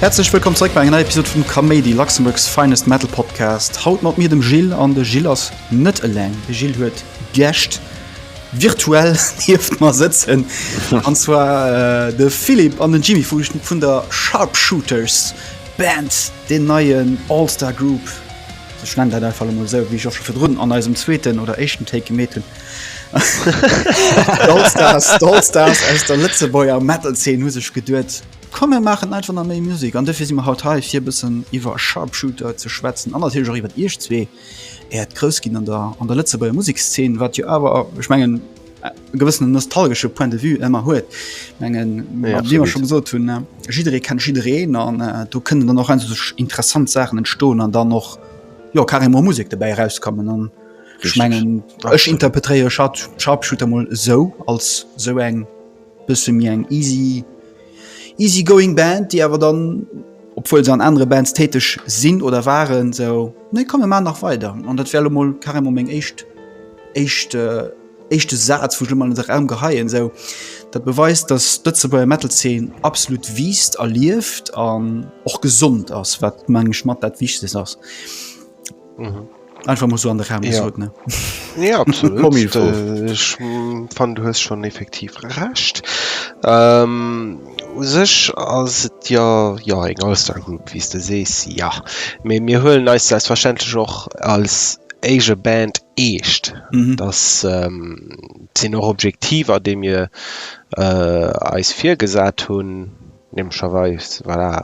Häerzlech wëllkomm zréck bei enger neier Episod vum Kaméidi, Luxembourg's finest Metal Podcast. Haut mat mir dem Gilles an de Gilles ass net eleng. De Gilles huet Gäscht virtuell hieft mar sëtzen. An zwar äh, de Philipp an den Jimmy vu vun der Sharpshooters. Band, deen neien All-Star Group, ech nennen dat einfach emol esou, wéi ech och scho virdrun an eisem zweeten oder éischten Take gemeet hunn. D'All-Stars, d'All-Stars aus der Lëtzebuerger Metal-Zeen hu sech geduet, komm mir maachen einfach nach méi Musek an dofir si mer haut hei fir e bëssen iwwer Sharpshooter ze schwätzen an natierlech och iwwert iech zwee, äert Groussginn an der Lëtzebuerger Musekszeen, wat jo awer, ech mengen, e gewëssenen nostalgesche Point de vue ëmmer huet mengen ja, immer schon so tun ne? jidderee kennt jidderee an äh, du kënnen dann noch ein sech interessant Sachen entstoen an dann noch jo kar immer Musik dabei herauskommen an schmengen ech interpretéiere Schaarpschutermol sou als sou eng Bësse méi eng easy, easy going Band, déi awer dann, obwuel se an anere Bands täteg sinn oder waren, sou, nee komm mir maachen nach weider. An dat wär elo mol carrément meng éischt, éischt, éischte Saz, wou ech elo mol an de Raum geheien. Esou, dat beweist, datt d'Lëtzebuerger Metal-Zeen absolut wiisst a lieft an och gesond ass, wat, mengen ech, mat dat Wichtegst ass. Mhm. Einfach muss so an der Raum ja. Gesagt, ne? Ja, absolut. Äh, ich fand, du hast schon effektiv recht. Ähm, sech ass et ja ja eng Allstar Group wies de sees ja. Me mir huelen eis selbstverständlech och als eige Band eescht. Mhm. Das ähm, sinn och Objektiver, de mir äh, eis virgesat hunn, nämlicherweis voilà,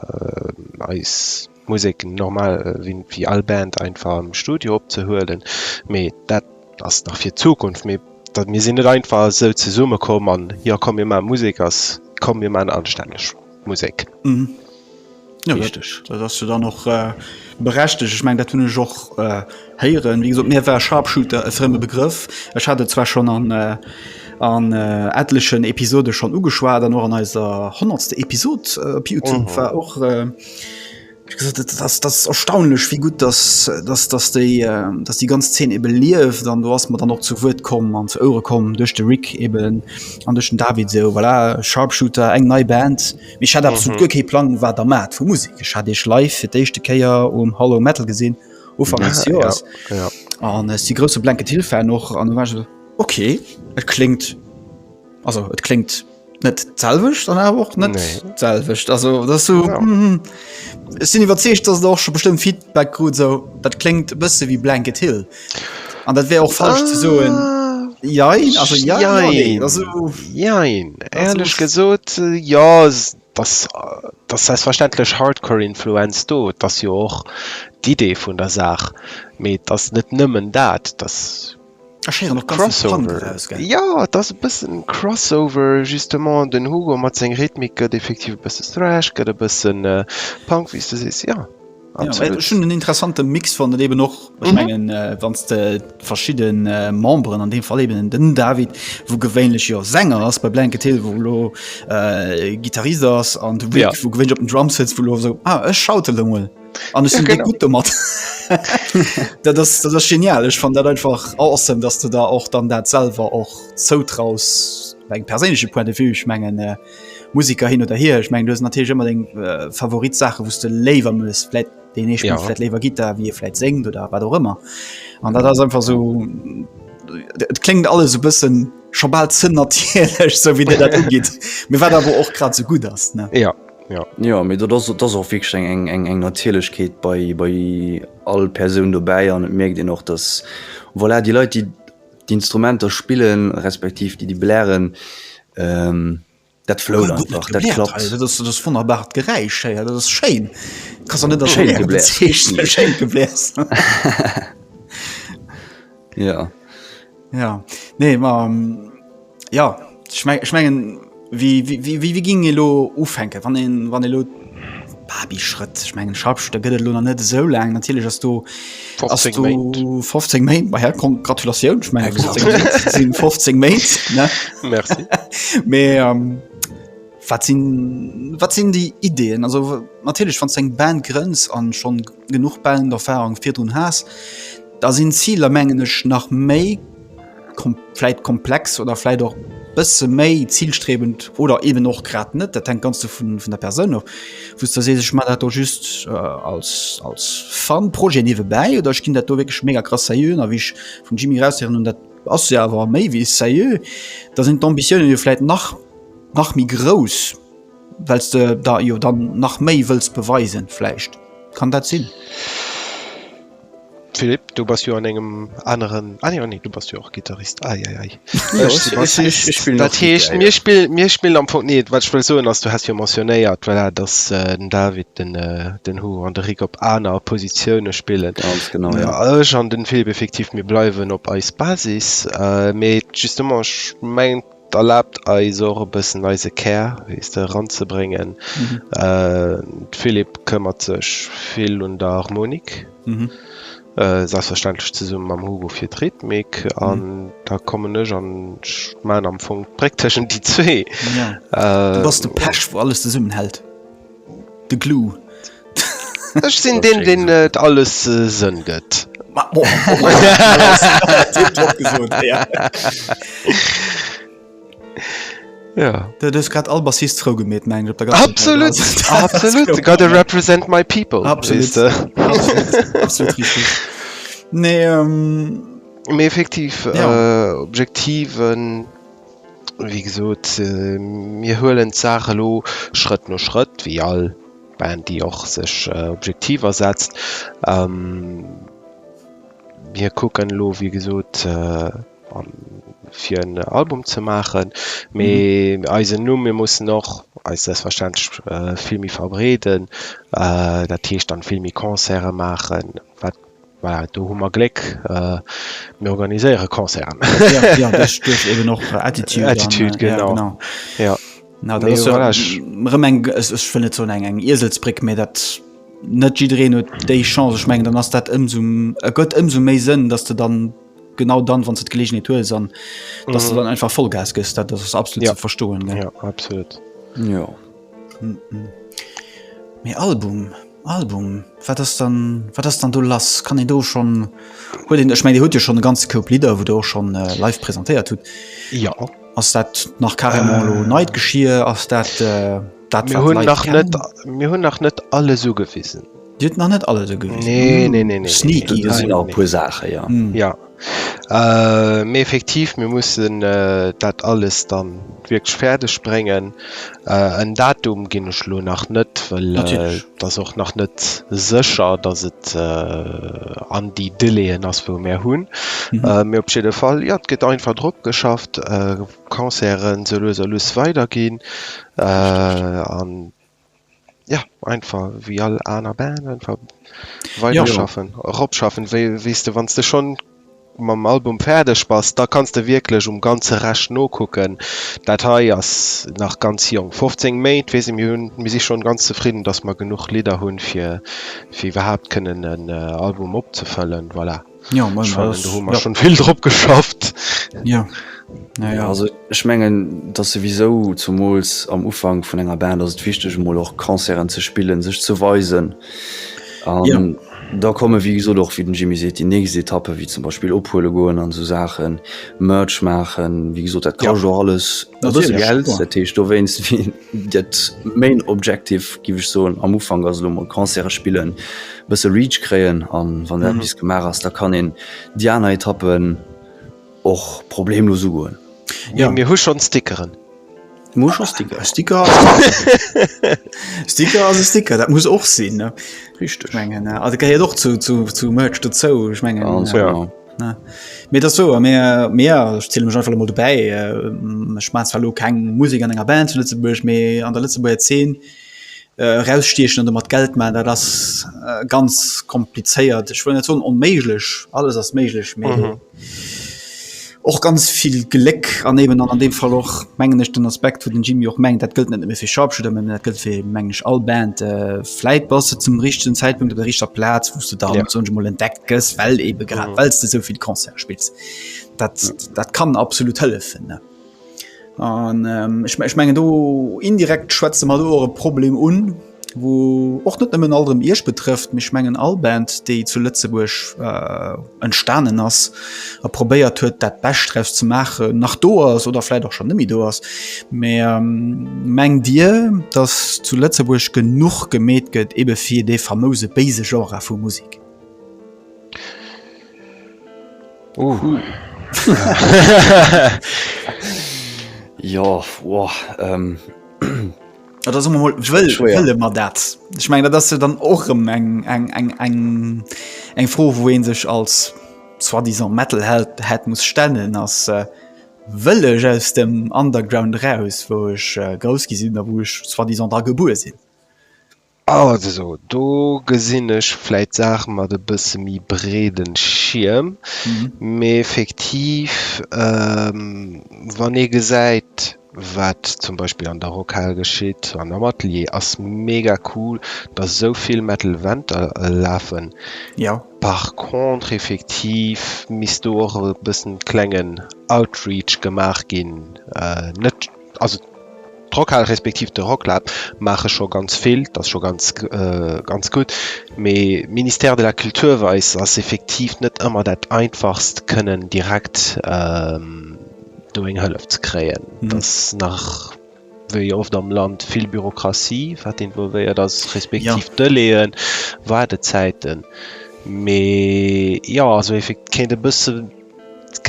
äh, eis Musek normal wéi all Band einfach am Studio opzehuelen, mee dat ass nach fir d'Zukunft. Mee mir sinn net einfach esou zesumme komm an, jo komm mir maache Musek a komm mir maachen anstänneg Musek. Richteg, dat ass jo dann och berechtegt. Ech mengen dat hunn ech och héieren. Wéi gesot mir war Sharpshooter e frëmme Begrëff. Ech hat et zwar schonn an an etlechen Episode schonn ugeschwat an och an eiser honnertste Episod op Youtube war och. das das erstaunlech wie gut das das das déi ähm, dass die ganz 10 eben lief dann du hast man dann noch zu Wort kommen an zu Eure kommen durch de Rick eben an durch den David so voilà, sharpshooter eng nei Band mich hat absolut mhm. okay Plan war der mat vu Musik ich hatte ich live für dechte Käier um Hallo metalal gesinn Ufang ja, ja, ja. an es die große blanke Hilfe noch an okay es klingt also es klingt net selwecht an awer och net nee. selwecht also dat so ja. mm, sinn iwwerzeecht dat och schon bestëmmt Feedback krut so dat klingt bësse wie blanket hill an dat wär auch falsch ah. ze soen ja also ja, ja, nee. also, ja ehrlich gesot äh, ja das das heißt verständlich hardcore influenz do das jo och d'idee vun der saach me das net nëmmen dat das Ech héieren och ganz vill Punk eraus, gell? Crossover. Jo, et ass e bëssen Crossover, justement. Den Hugo mat seng Rhythmik gëtt effektiv e bësse Thrash, gëtt e bësse Punk, wéi s de sees, jo. Jo, well ech hunn en interessante Mix fonnt, an eeben och, ech mengen, wann s de verschidde Memberen, an deem Fall eeben den David, wou gewéinlech jo Sänger ass bei Blanket Hill, wou elo Gittarist ass, an de Vic, wou gewéinlech op den Drums sëtzt, wou elo esou, ah, ech schautele mol. an ja, genau. gut mat dat das das das genial ich fand dat einfach awesome dass du da auch dann dat selber auch zoutraus eng persche point de vue ich mengen äh, musiker hin oder her ich meng du na natürlich immer den äh, favorit sache wo du lever muss vielleicht den ich ja. vielleicht lever git da wie vielleicht senkt oder war doch immer an da das einfach so Et klingt alles so bisschen schon bald zünn natürlich so wie dir dat umgeht mir war da wo auch grad so gut hast ne ja Jo, mee dat ass och wierklech eng Natierlechkeet bei all Persoun dobäi an et mierkt een och, datt voilà déi Leit, déi d'Instrumenter spillen, respektiv déi déi blären, dat flout einfach, dat klappt. Dat ass e wonnerbart Geräisch héi, dat ass schéin. Schéin gebläert. Ja ja nee ma ja schmengen ich mein, wie, wie, wie, wie, wie ging elo ufänken wann een wann elo Babi Schrëtt ich mengen Schasch da gëtt lo net esou lang natierlech ass du 15 Main bei her kom Gratulatioun ich mein, 15, 15 Main mé wat sinn wat sinn die Ideenn also natierlech van seng Band Grenz an schon genuch bellend Erfahrung virdrun has, da sin d'Ziler mengen ech nach méi vläit komplex oder vläit och bësse méi zilstrebend oder eben och grad net, dat hänkt ganz vun der Persoun of, wou's de sees ech man dat do just als als fun Projet niewebäi oder ech gin dat do wierklech mega krass seriö, a wéi ech vum Jimmy eraushéieren hunn, dat ass se awer méi wéi seriö, da sin d'Ambitiounen jo vläit nach nach méi grouss. Wells de der jo dann nach méi wëlls beweisen vläicht? Kann dat sinn? Philippe, du bass jo an engem aneren, ah jo nee du bass jo och Gittarist, ai ai ai, ech si Bassist. Ech spillen och Dat heescht Gitter, mir jo. spill, mir spillen am Fong, nee wat ech wëll soen ass, du has jo mentionnéiert voilà datt den David den den Hu an de Rik op aner Positioune spillen. Ganz genau, jo. Mä ech an den Philippe effektiv, mir bleiwen op eis Basis, mee justement ech mengen, Erlaabt eis och e bëssen eise Kär, weess de, eranzebréngen. D'Philippe këmmert sech vill un der Harmonik, selbstverständlech zesumme mam Hugo fir d'Rhythmik, an da kommen ech an ech maachen am Fong d'Bréck tëschent déi zwee. Du bass de Pech, wou alles zesummenhält. De Clou. Ech sinn deen, deen et alles Sënn gëtt. Du hues grad all Bassist frou gemeet, mengen ech. Absolut! Absolut! I gotta represent my people! Absolut! Absolut richteg. Nee, effektiv, Objektiven. Wéi gesot, mir huelen d'Saach elo Schrëtt no Schrëtt, wéi all Band, déi och sech Objektiver setzt. Mir kucken elo, wéi gesot, fir en Album ze maachen, mee eisen Numm, mir mussen och eis selbstverständlech vill méi verbreeden, dat heescht dann vill méi Concerte maachen, wat Voilà, do hu mer Gléck, mir organiséiere Concerten. Jo, duerch eben och Attitude. Attitude, genau. Jo, genau. Dat ass jo erëm eng, ech wëll net soen eng Ieselsbréck, mä dat net jiddereen huet déi Chance. Ech mengen, dann ass dat ëmsou, ergëtt ëmsou méi Sënn, datt s de dann genau dann, wann s de d'Geleegenheet hues an datt s de dann einfach Vollgas gëss. Dat ass absolut ze verstoen. Jo, absolut. Jo. Mee Album, Album, wat ass dann, wat ass dann do lass? Kann een do schonn, huet een, ech meng Dir hutt jo schonn e ganze Koup Lidder, wou Der och schonn live presentéiert hutt. Jo. Ass dat nach carrément elo neit Geschir? Ass dat dat, wat d'Leit kennen? Mir hunn nach net, mir hunn nach net alles ugewisen. Dir hutt nach net alles ugewisen. Nee, nee, nee, nee. Sneaky. Do sinn nach e puer Saachen, jo. Jo. Mee effektiv, mir mussen dat alles da wierklech fäerdeg bréngen. En Datum ginn ech elo nach net, well et ass och nach net sécher, datt et an déi Délaiën ass, wou mir hunn. Mee op jidde Fall, jo, et gëtt einfach drop geschafft, Concerten sou lues a lues weiderginn. An Ja, einfach wéi all aner Band einfach weiterschaffen, ja. eropschaffen, wéi wees du wann du schon mam Album fäerdeg bass, da kanns de wierklech um ganze Rescht nokucken. Dat hei ass nach ganz jonk. 15 Méint weess ech, mir hunn, mir si schon ganz zefridden, dass mer genuch Lidder hunn, fir fir iwwerhaapt kënnen en Album opzefëllen, voilà. Jo moin Ech fannen do hu mer schonn vill drop geschafft. Jo jo. Jo also ech mengen et ass souwisou zumools am Ufank vun enger Band ass et wichteg emol och Concerten ze spillen, sech ze weisen an da komme wéi gesot och wéi den Jimmy seet déi nächst Etappe wéi zum Beispill ophuele goen an esou Saachen, Merch maachen, wéi gesot dat kascht och alles e bësse Geld, dat heescht dowéinst wéi Dat main objective giff ech soen am Ufank ass elo mol Concerte spillen, e bësse Reach kréien an wann dat bis gemaach ass, da kann een déi aner Etappen och problemlos ugoen. Jo mir hu schonn Stickeren. Mir hu schonn Sticker. E Sticker ass e Sticker ass e Sticker, dat muss och sinn. Richteg. Ech mengen dat gehéiert och zu Merch dozou, ech mengen. Ganz genau. Ne. Mee et ass esou, a mir, mir ja, ech ziele mech einfach emol dobäi, ech äh, maan zwar elo keng Musek an enger Band zu Lëtzebuerg, mee an der Lëtzebuerger Zeen äh, erausstiechen an domat Geld maachen, dat ass äh, ganz komplizéiert. Ech wëll net soen onméiglech, alles ass méiglech, mee mhm. och ganz vill Gléck an eben an, an deem Fall och mengen ech den Aspekt, wou den Jimmy och mengt, dat gëllt net méi fir Sharpshooter, dat gëllt fir mengen ech all Band. Äh, Vläit bass de zum richtegen Zäitpunkt op der richter Plaz, wou's de dann ja. sonst mol entdeckt gëss, well eben grad mhm. wells de souvill Konzert spills. Dat, mhm. dat kann absolut hëllefen. Ne? An ähm, ich, ich mengen do indirekt schwätze mat eure Problem un, wo och net nëmmen alterem Isch betrëfft, michch mengen all Band, déi zu Lëtzebuerg äh, entstanen ass a probéiert huet dat bescht draus ze maachen nach do ass oder vläit och schon nëmmi do ass mä mengt Dir datt zu Lëtzebuerg genuch gemeet gëtt ebe fir dee famouse béise Genre vu Musek? Ohh. Ja, da somme mol, wëll, Schwéier. wëlle mer dat? Ech meng, dat ass jo dann och rëm eng, eng, eng, eng, eng Fro, wou ee sech als soi-disant Metalheld hätt muss stellen, ass, äh, wëll ech aus dem Underground eraus, wou ech äh, grouss gi sinn a wou ech soi-disant dra gebuer sinn? Also do gesinn ech vläit Saache mat e bësse méi breede Schierm, mee effektiv wann ee gesäit, wat zum Beispill an der Rockhal geschitt an am Atelier, ass mega cool, datt esou vill Metal Venter lafen. Par contre effektiv misst do och e bëssen klengen Outreach gemaach ginn, net. Also d'Rockhal respektiv de Rocklab maache scho ganz vill, dat ass scho ganz ganz gutt, mee Ministère de la Culture weise ass effektiv net ëmmer dat Einfachst kënnen direkt do eng Hëllef ze kréien. Dat ass nach wéi oft am Land vill Bürokratie wat involvéiert ass, respektiv Delaien, Waardezäiten. Mee jo, also kéint e bësse.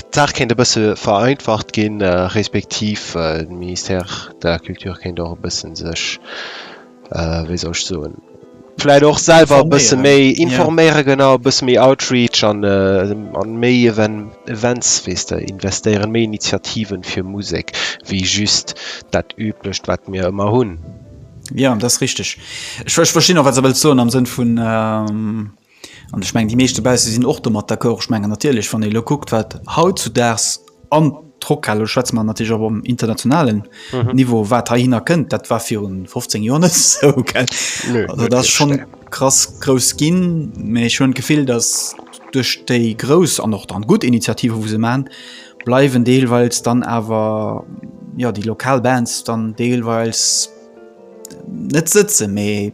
D'Saach kéint e bësse vereinfacht ginn, respektiv de Ministère de la Culture kéint och e bësse sech, wéi soll ech soen, vläicht och selwer e bësse méi informéieren, genau, e bësse méi Outreach an méi Events, weess de, investéieren, méi Initiativen fir Musek wéi just dat Üblecht, wat mir ëmmer hunn. Jo, dat ass richteg. Ech verstinn och, wat s de wëlls soen am Sënn vun, An ech mengen, déi meescht dobausse sinn och domat d'accord. Ech mengen natierlech, wann ee elo kuckt, wat hautzudaags an d'Rockhal, elo schwätze mer natierlech och am internationalen Niveau, wat heihinner kënnt, dat war viru 15 Joer net esou, gell? Nö. Also dat ass scho krass grouss ginn. Mä ech hunn d'Gefill, datt duerch déi grouss an och dann gutt Initiativen, wou se maachen, bleiwen deelweils dann awer, jo, déi lokal Bands dann deelweils net sëtzen. Mee.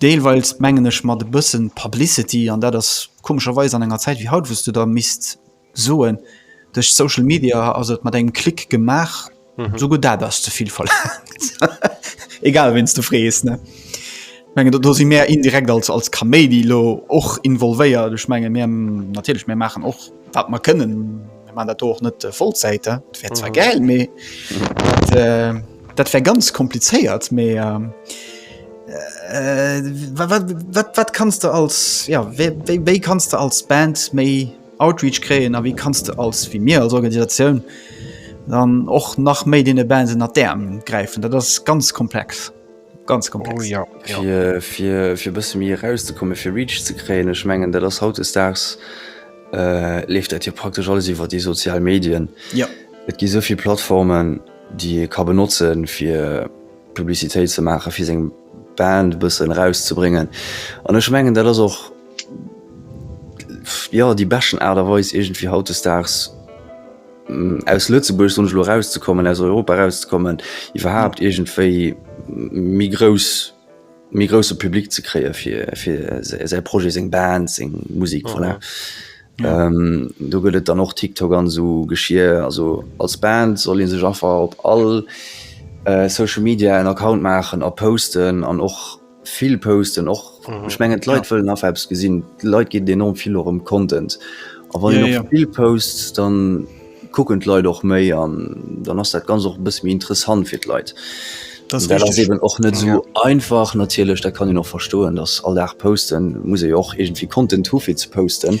Deelweils mengen ech mat e bëssen Publicity, an dat ass komescherweis an enger Zäit wéi haut, wou s du da misst soen, duerch Social Media ass et mat engem Klick gemaach, souguer dat ass ze vill verlaangt, egal ween s du frees. Ech mengen, do si mär indirekt als Kaméidi elo och involvéiert. Ech menge mir, natierlech, mir maachen och. Wat mer kënnen, mir maachen dat do och net Vollzäit, et wär zwar gäil, mee dat wär ganz komplizéiert. Mee wat kanns de als, jo, wéi kanns de als Band méi Outreach kréien a wéi kanns de als, wéi mir als Organisatioun dann och nach méi deene Bands ënnert d'Äerm gräifen? Dat ass ganz komplex. ganz komplex oh, ja. fir bësse mir rauszekomme fir Reach ze kréien ech mengen dat ass haut daags äh, leeft dat hier praktisch alles iwwer die sozial Medien ja Et gi soviel Plattformen die ka benotzen fir Publiitéit ze mache fir seg Band bëssen rauszubringen an ech mengen dat ass och ja die beschen Aderweis egent wie haut daags aus Lëtzebuerg sonst lo rauszekommen aus Europa rauszekommen iwwerhaupt irgendwéi mi grouss mi grosse Publikum ze kreieren fir fir se Projekt seg Band seg Musik oh, voilà. ja. ähm, du gëtt dann och TikTok an so geschier also als Band soll sech einfach op all äh, Social Media en Account machen a posten an och Vill posten och ech mengen d'Leit wëllen nach eppes gesinn. Leit ginn enorm vill och ëm Content a wann een och vill posts, dann kucken d'Leit och méi an dann ass dat ganz och e bësse méi interessant fir d'Leit. Dat ass eben och net esou einfach natierlech, dat kann een och verstoen, datt all Dag posten muss ee jo och iergendwéi Content hu fir ze posten.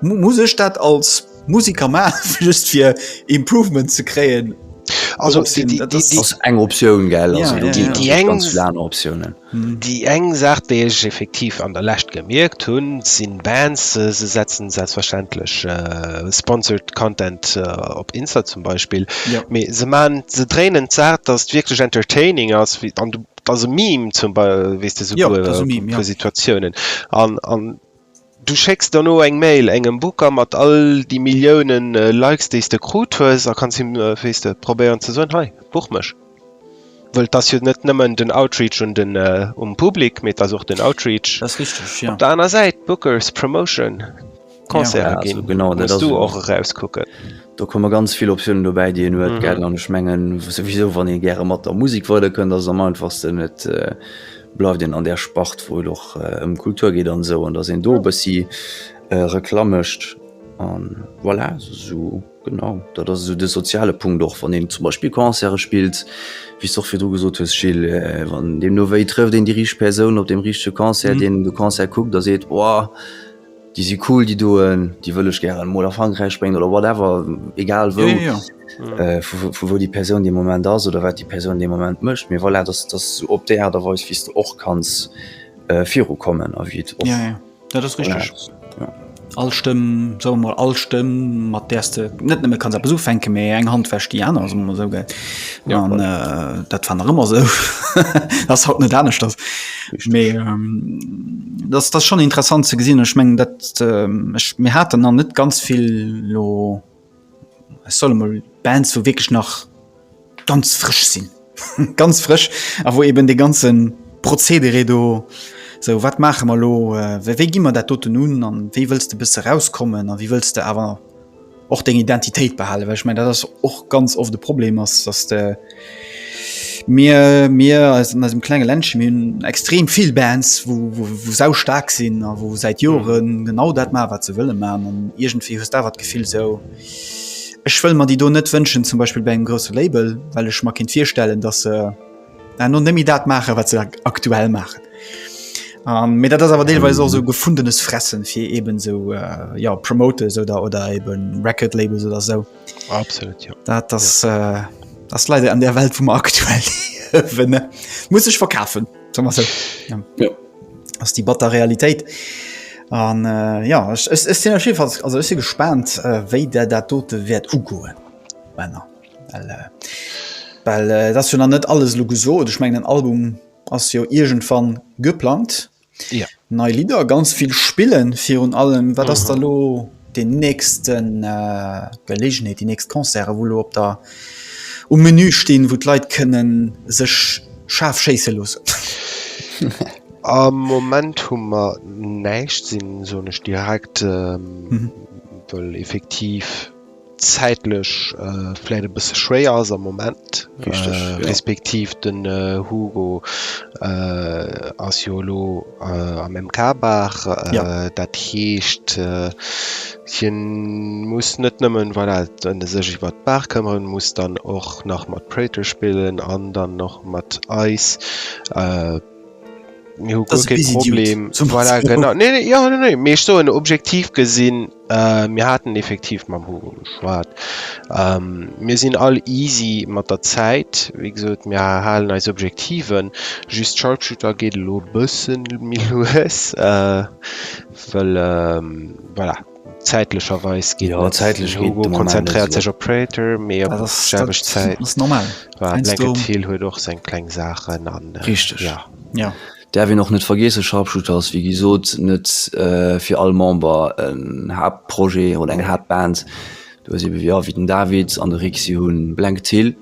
Muss ech dat als Musiker maachen just fir Improvement ze kréien? Also eng Optioun gell déi eng Optiounen. Déi eng Saach déi ech effektiv an der Lescht gemierkt hunn sinn Bands se setzen selbstverständlech sponsored Content op Insta zum Beispill mee se man se dréinen d'Saach datt wierklech entertaining ass an datt e Meme zum Bei weess de souguer vu Situatiounen an an Du schécks dono eng Mail engem Booker mat all déi Milliounen Likes déi's de krut hues a kanns him, wéi's de, probéieren ze soen, hei, buch mech. Wëll 't ass jo net nëmmen den Outreach un den um Public, mee 't ass och den Outreach op der aner Säit, Bookers, Promotion, Concerten ginn, muss do och erauskucken. Do komme ganz vill Optiounen dobäi, déi een huet, gell, an ech mengen souwisou, wann ee gäre mat der Musek weiderkënnt, ass et am einfachsten et, bleift een an där Spart, wou et och ëm Kultur geet an esou, an datt een do e bëssi Reklamm mécht. A voilà, esou genau, dat ass esou de soziale Punkt och, wann een zum Beispill Concerte spillt, wéi s de och virdru gesot hues, Gilles, wann deemno wéi trëfft een déi richteg Persoun op deem richtege Concert, deen de Concert kuckt a seet, oh, Déi si cool déi doen, déi wëll ech gären mol a Frankräich bréngen oder whatever, egal wou, vu wou déi Persoun dee Moment ass oder wat déi Persoun dee Moment mécht. Mee voilà, dass dass esou op déi Aart a Weis wéi s de och kanns viru kommen a wéi et och. Dat ass richteg. All Stëmm, soe mer mol, all Stëmm mat där s de net nëmme kanns eppes ufänken, mee eng Hand wäscht déi aner, soe mer mol esou, gell? An dat war nach ëmmer esou, ass haut net aneschters, mee. dass dass schon interessant ze gesinn ech mengen dat ech mir haten an net ganz vill lo ech solle mol band zu wirklich nach ganz frisch sinn ganz frisch a wo eben de ganzen prozedere do sou wat maache mer lo wéi gi mer dat doten un an wéi wëlls de besse rauskommen a wéi wëlls de awer och deng Identitéit behalen, well ech mengen dat ass och ganz oft e Problem ass, dass de mir mir eis an eisem klenge Ländche mir hunn extrem vill Bands wou wou sau staark sinn a wou säit Jore genau dat maachen wat se wëlle maachen an iergendwéi hues d'awer d'Gefill esou ech wëll mer déi do net wënschen zum Beispill bei engem grousse Label, well ech mer kéint virstellen, dass se An no nëmmi dat maachen, wat se aktuell maachen. Um, mir dat ass awer deelweis och so gefundenes Fressen fir eben so äh, ja Promotes oder oder eben Record Labels oder so. Absolut ja. Dat das, ja. Äh, das leider an der Welt vum aktuell ne? muss ich verkafen so. ja. ja. ass die batter Realität. An äh, ja ech sinn also si gespannt, äh, wéi der dat dote wäert ugoen. Bänner. Well, äh, well äh, das jo nach net alles lo gesot. Ech mengen den Album ass jo irgendwann geplant. Ja. Nei Lieder, ganz viel spillen virun allem. Wat mhm. ass da lo den nächsten äh, Gelegenheit, die nächst Konzerte, wo lo op der um Menü stehen, wo d'Leit kënnen sech scharf schéisse losen. Am Moment hu mer näicht sinn sonech direkt ähm, mhm. effektiv zäitlech vläit e bësse schwéier ass am Moment. Richteg, ja. Respektiv den Hugo ass jo elo am MK Bar. Ja. Dat heescht, hien muss net nëmmen, voilà, sech iwwert d'Bar këmmeren, muss dann och nach mat Praetor spillen an dann och mat eis. Mir hu guer kee Problem. Voilà, genau. Nee, nee, ja, nee, nee. Mee ech soen objektiv gesinn, äh, mir haten effektiv mam Hugo geschwat. Ähm, mir sinn all easy mat der Zäit. Wéi gesot, mir halen eis Objektiven. Just Sharpshooter geet elo e bëssen méi lues, äh, well, ähm, voilà. Zäitlecherweis geet net. Hugo konzentréiert sech op Prater, mee op d'selwecht Zäit war Blankett Hill huet och seng kleng Saachen an. Richteg, jo. Däerf een och net vergeessen, Sharpshooter ass wéi gesot net fir all Member en Haaptprojet oder eng Haaptband. Du hues ebe, jo, wéi den David an de Rick, si hu Blankett Hill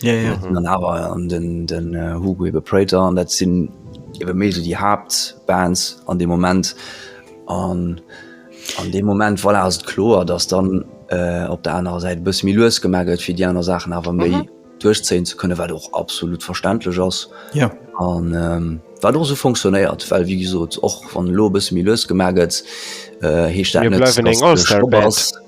ja, ja. dann awer an den den äh, Hugo iwwer Prater an dat sinn iwwer méi so die Hauptbands an dem Moment an an dem Moment voilà, ass et kloer, dass dann äh, op der anerer Säit bëss mi lues gemagelt fir die aner Sachen awer méi mhm. duerchzéien ze kënne, wat och absolut verständlech ass. Ja. An ähm, wat och so funktionéiert, well wie gesot och wann lo bëss mi lues gemagelt äh, heescht dat net, dass du eng Allstar-Band.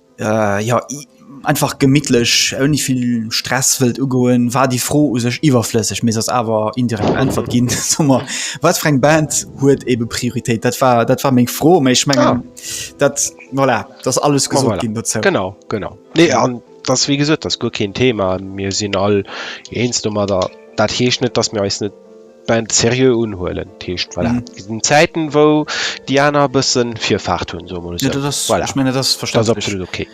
Äh jo, einfach gemittlech ouni vill Stress wëllt ugoen, war déi Fro u sech iwwerflësseg, mee se ass awer indirekt beäntwert ginn. Soe mer, wat fir eng Band huet ebe Prioritéit? Dat war dat war meng Fro, mee ech mengen dat, voilà, dat ass alles gesot ginn dozou. Genau, genau. Nee, an dat ass wéi gesot, dat ass guer keen Thema. Mir sinn all eens domadder. Dat heescht net, dass mir eis net. Band serieux unhuelen Teescht voilà. mm. den Zäiten wou Di aner bëssen Virfahrt hunn so ja, so. das, voilà. ich mein, das verstand absolut okay.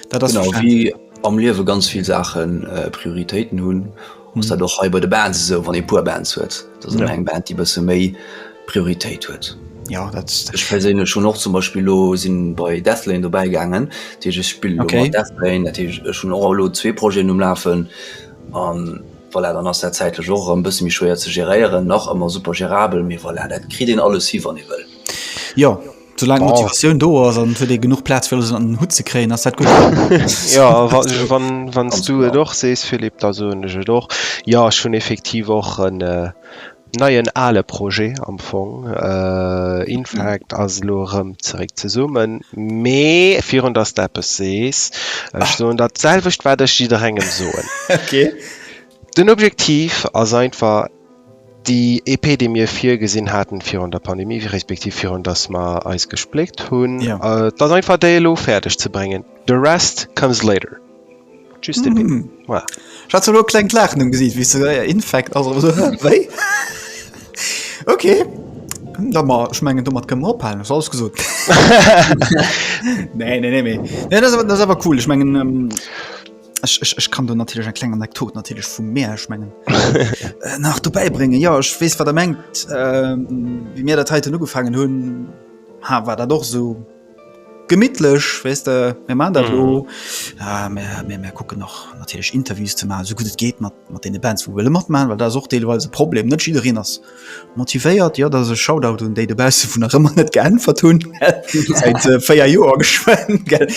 Dat ass genau wie am Liewe ganz vill Saachen äh, Prioritéiten hunn muss dat och hei bei de Band esou wann e puer Band huet. Dat ja. eng Band déi bësse méi Prioritéit huet. Ja, dat Ech perséinlech schon och zum Beispiel lo sinn bei Deathlane dobäigaangen, Deeg ech spill okay. Deathlane, dat hun och lo zwee Projeten umlafen. Um, Voilà, dann ass dat zäitlech och erëm e bësse méi schwéier ze geréieren. Nach ëmmer super gerabel, mee voilà, dat kritt een alles hi, wann ee wëll. Jo, soulaang d'Motivatioun do ass an et huet ee genuch Plaz, fir alles ënnert en Hutt ze kréien, ass dat gutt. Jo, wann s du et och sees, Philippe, da soen ech et och. Jo, ech hunn effektiv och en. Neien ale Projet am Fong. Infact ass elo erëm zeréck zesummen. Mee virun datt s de eppes sees, ech soen der d'selwecht, wat ech jidderengem soen. Ok. Den Objektiv ass einfach, déi EP, déi mir virgesinn haten virun der Pandemie, respektiv virun datt mer eis gespléckt hunn, ass einfach déi elo fäerdeg ze bréngen. The rest comes later. Just mm -hmm. voilà. Ich hatte nur klein Lachen im Gesicht, wie so, ja, Infekt, also so, wei? okay. Da mal, ich meine, du mal können wir abhalten, das ist alles gesund. nee, nee, nee, nee. Ja, das, das ist aber cool. Ich meine, ähm, ich, ich, ich kann da natürlich eine kleine Anekdote natürlich von mir, ich meine, äh, nach dabei bringen. Ja, ich weiß, was er meint. Ähm, wie wir das heute angefangen haben, ha, war das doch so. Gemittlech wees de mir man dat lo mir kucken noch natierlech Interviews ze ma so gutt et geet mat mat deene Bands vu wëlle mat man, well dat och deelweise Problem net jidereen ass motivéiert. Jo dat ass e Shoutout un déi dobausse vun nach ëmmer net geäntwert hunn säit 4 Joer geschwenn gell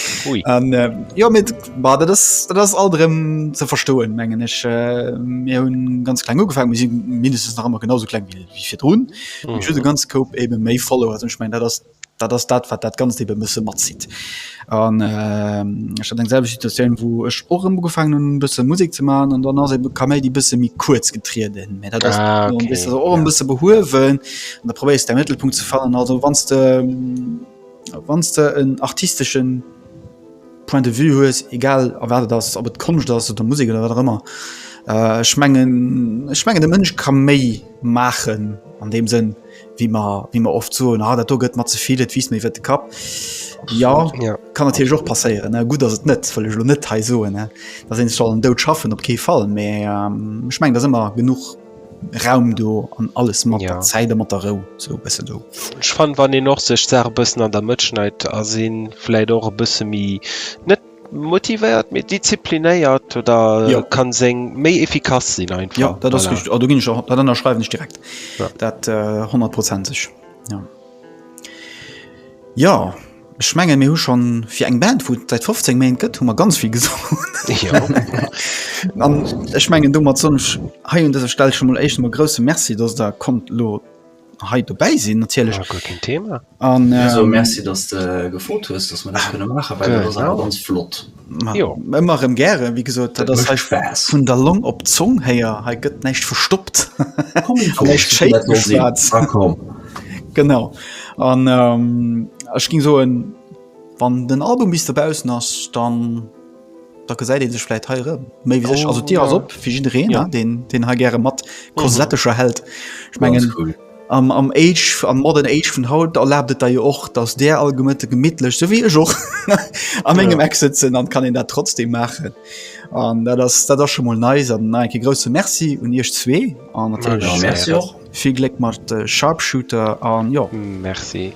an jo mit war dat ass dat ass alt erëm ze verstoen mengen ech. Mir hunn ganz kleng ugefaangen, mir si mindestens nach ëmmer genau sou kleng wéi virdrun. Ech hunn e ganze Koup ebe méi Follower an ech mengen dat ass. Dat ass dat, wat dat Ganzt eebe e bësse matzitt. An ech hat eng selwecht Situatioun, wou ech och erëm ugefaangen hunn, e bësse Musek ze maachen. An dann ass eebe d'Kaméidi e bësse méi kuerz getrieden. Mä dat ass dann, weess de, awer och e bësse behuewen. An da probéiers de däi Mëttelpunkt ze fannen. Also wann s de, wann s de en artistesche Point de vue hues, egal a wat et ass, ob et Konscht ass oder Musek oder wat och ëmmer, ech mengen, ech mengen de Mënsch ka méi maachen an deem Sënn. wéi mer, wéi mer oft soen, ah, dat do gëtt mat ze vill, et wiisst mir iwwer de Kapp. Ja, ja. kann natierlech och passéieren. Gutt ass et net, wëll ech lo net hei soen, dat een soll den Dout schaffen, op kee Fall. Mä ähm, ech meng, dat ëmmer genug Raum do an alles mat ja. Zäide mat der Rou so bësse do. Ech fan wann en och sech Sache bëssen an der Mëtt schneit a sinn, vläit och e bësse méi net Motivéiert, méi disziplinéiert oder ja. kann seng méi efficace sinn einfach. Ja, dat ass richtig. Du ginn ech dat ënner schreiwen ech direkt. Ja. Dat äh, 100 prozentg. Ja. ja, ech menge mir hu schon fir eng Band vu seit 15 Main gëtt hu man ganz viel gesot. Ja. Ech menggen du mat sonch hei hun dëser Stell schon mal echt mal grosse Merci, dats der kommt lo hei dobäi sinn natierlech ja, guer keen Thema an ähm, so, Merci dass de gefrot hues dass man dat kënne maachen well dat ass awer ganz flott ëmmer rem gäre wie gesot dat ass hech Spaß vun der Long op Zong héier hei gëtt näicht verstoppt genau an ähm, ech ging soen wann den Album bis derbausen ass dann da gesäit een sech vläit hei erëm méi wéi sech. Also d'Dier ass op fir jiddereen, ne? Deen, deen hei gäre mat Kosettescher hält. Ech mengen am, am Age, am modern Age vun haut erlaabt et der jo och, datt där all Gemëtte gemittlech, sou wéi ech och, am engem Eck sëtzen an kann een dat trotzdem maachen. An dat ass, dat ass scho mol nice. An nach eng Kéier grousse Merci un iech zwee an natierlech vill Gléck mat Sharpshooter an jo. Merci.